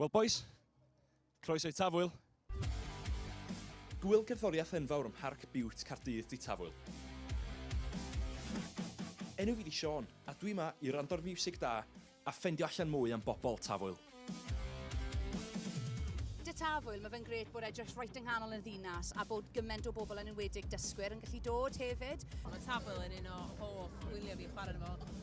Wel bois, croeso i Tafwyl. Gŵyl cerddoriaeth enfawr ym Mharc Biwt Caerdydd 'di Tafwyl. Enw fi 'di Siôn a dwi 'ma i wrando ar fiwsig da a ffendio allan mwy am bobl Tafwyl. Dŷ Tafwyl, mae fe'n grêt bod e jyst reit yng nghanol y ddinas a bod gymaint o bobl yn enwedig dysgwyr yn gallu dod hefyd. Mae Tafwyl yn un o hoff wyliau fi chwarae arno fo.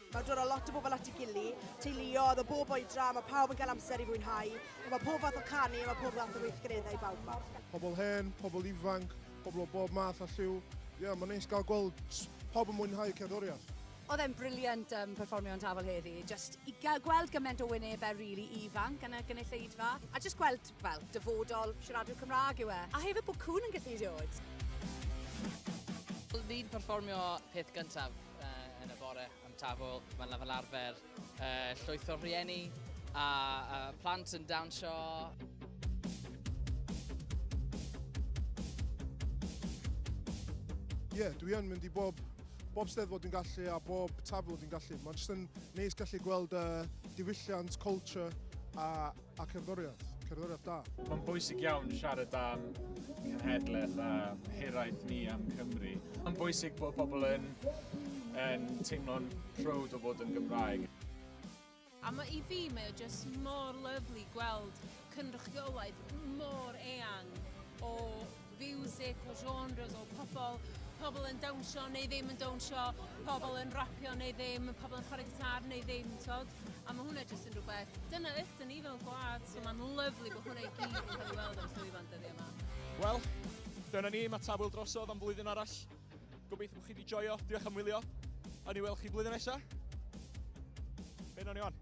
Mae dod â lot o bobl at ei gili, teuluodd o bob oedran, mae pawb yn cael amser i fwynhau, mae pob fath o canu, mae pob fath o weithgareddau bawb ma. Pobl hen, pobl ifanc, pobl o bob math a lliw. Ie, yeah, mae'n neis gael gweld pob yn mwynhau cerddoriaeth. Oedd e'n briliant um, perfformio yn tafel heddi. Just i gweld gymaint o wynebau rili really ifanc yn y gynulleidfa. A just gweld, fel, dyfodol siaradwyr Cymraeg yw e. A hefyd bod cwn yn gallu dod. Ni'n perfformio peth gyntaf. uh, yn y bore am tafwyl. Mae'n fel arfer uh, llwyth o rhieni a, a plant yn dawnsio. Ie, yeah, dwi yn mynd i bob, bob steddfod dwi'n gallu a bob tafwyl dwi'n gallu. Mae'n jyst yn neis gallu gweld uh, diwylliant, culture a A cerddoriaeth, cerddoriaeth da. Mae'n bwysig iawn siarad am cenhedlaeth a hiraeth ni am Cymru. Mae'n bwysig bod pobl yn, yn teimlo'n proud o fod yn Gymraeg. A mae i fi, mae o just mor lyflu gweld cynrychiolaeth mor eang o fiwsig, o genres, o pobl, pobl yn dawnsio neu ddim yn dawnsio, pobl yn rapio neu ddim, pobl yn chwarae gitar neu ddim, tod. A mae hwnna jyst yn rhywbeth, dyna ydyn ni fel gwlad, so mae'n lyflu bod hwnna i gyd yn cael ei weld o'r llwyfan dyddi yma. Wel, dyna ni, mae Tafwyl drosodd am flwyddyn arall. Gobeithio bod chi wedi joio, diolch am wylio, a ni weld chi blwyddyn nesaf. Be nawn ni on?